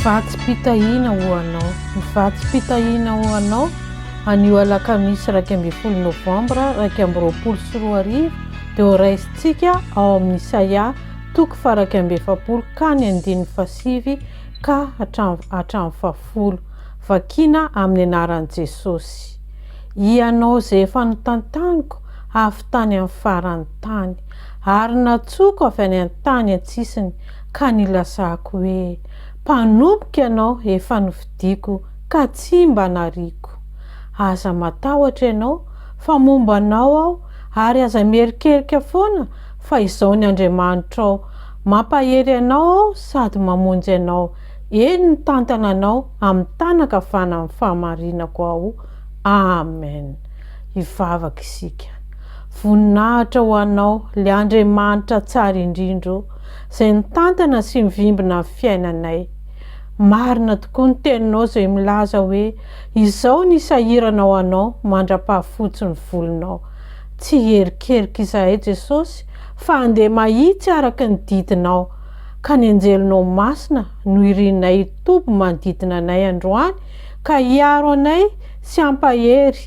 Vatsim-pitahiana ho anao Ny vatsim-pitahiana ho anao anio alakamisy iraika ambin'ny folo novambra iraika amby roapolo sy roa arivo dia ho raisintsika ao amin'ny Isaia toko faraika amby efapolo ka ny andininy fasivy ka hatramin'ny fahafolo. Vakina amin'ny anaran'i Jesosy. Ianao izay efa notantaniko avy tany amin'ny faran'ny tany. Ary natsoako avy any an-tany an-tsisiny ka nilasako hoe, Mpanompoka Ianao efa nofidiko ka tsy mba nariako. Aza matahotra Ianao, fa momba Anao aho, ary aza mierikerika foana fa izao ny Andriamanitrao, Mampahery Anao aho sady mamonjy Anao, eny mitantana Anao amin'ny tànankavanan'ny fahamarinako aho. Amen. Hivavaka isika. Voninahitra ho anao, le Andriamanitra tsara indrindra ô, zay nitantana sy mivimbina ny fiainanay. Marina tokoa ny teninao izay milaza hoe izao ny isahiranao anao mandra-pahafotsy ny volonao. Tsy hierikerika izahay Jesosy fa andeha mahitsy araka ny didinao, ka ny anjelinao masina no irinay hitoby manodidina anay androany ka hiaro anay sy hampahery